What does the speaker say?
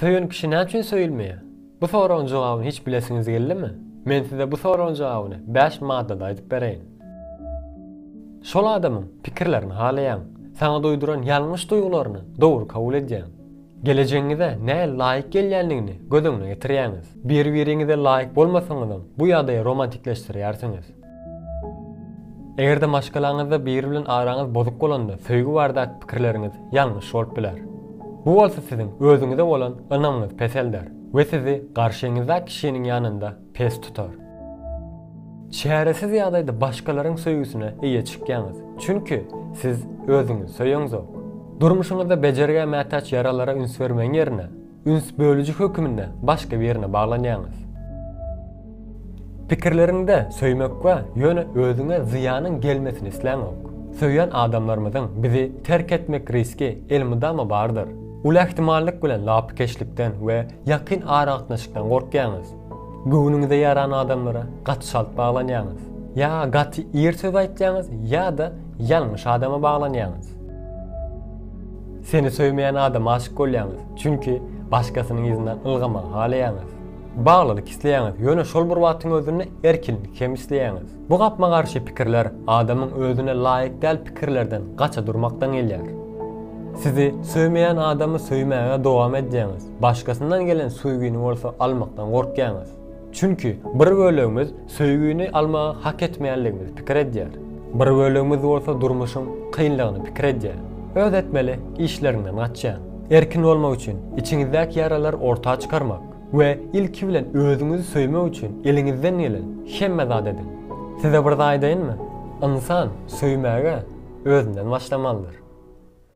Söýen kişi näçün söýülmeýär? Bu soragyň jogabyny hiç bilesiňiz geldimi? Men size bu soragyň jogabyny bäş maddada aýdyp bereýin. Şol adamyň pikirlerini halaýaň. Saňa duýduran ýalňyş duýgularyny dogry kabul edýäň. Gelejegiňize nähili laýyk gelýändigini göz öňüne getirýäňiz. Bir-biriňize laýyk bolmasaňyzam, bu ýagdaýy romantikleşdirýärsiňiz. Eger-de maşgalaňyzda biri bilen araňyz bozuk bolanda, söýgi baradaky pikirleriňiz ýalňyş bolup biler. Bu bolsa siziň özüňize bolan ynamyňyzy peselder we sizi garşyňyzdaky kişiniň ýanynda pes tutar. Çäresiz ýagdaýda başgalaryň söýgüsine eýe çykýaňyz, çünki siz özüňizi söýeňzok. Durmuşyňyzda bejergä mätäç ýaralara üns bermegiň ýerine, Üns bölüji höküminde başga birine baglanýaňyz. Pikirleriňde söýmek bar, ýöne özüňe zyýanyň gelmesini isläňok. Söýýän adamlarymyzyň bizi terk etmek riski elmydama bardyr. Uly ähtimallyk bilen lapykeçlikden we ýakyn aragatnaşykdan gorkýaňyz. Göwnüňize ýaran adamlara gaty çalt baglanýaňyz. Ýa gaty ir söz aýtýaňyz ýa-da ýalňyş adama baglanýaňyz. Seni söýmeýän adama aşyk bolýaňyz, çünki başgasynyň yzyndan ylgamagy halaýaňyz. Baglylyk isleýäňiz, ýöne şol bir wagtyň özünde erkinlik hem isleýäňiz. Bu gapma-garşy pikirler adamyň özüne laýyk däl pikirlerden gaça durmakdan gelýär. Sizi söýmeýän adamy söýmäge dowam edýäňiz, Başgasyndan gelen söýgini bolsa almakdan gorkýaňyz. Çünki bir bölegimiz söýgini almagy hak etmeýänligimizi pikir edýär. Bir bölegimiz bolsa durmuşyň kynlygyny pikir edýär. Öz etmeli işleriňden gaçýaň. Erkin bolmak üçin içiňizdäki ýaralary orta çykarmak we ilki bilen özüňizi söýmek üçin eliňizden gelen hemme zady ediň. Size bir zat aýdaýynmy? Ynsan söýmäge özünden başlamalydyr.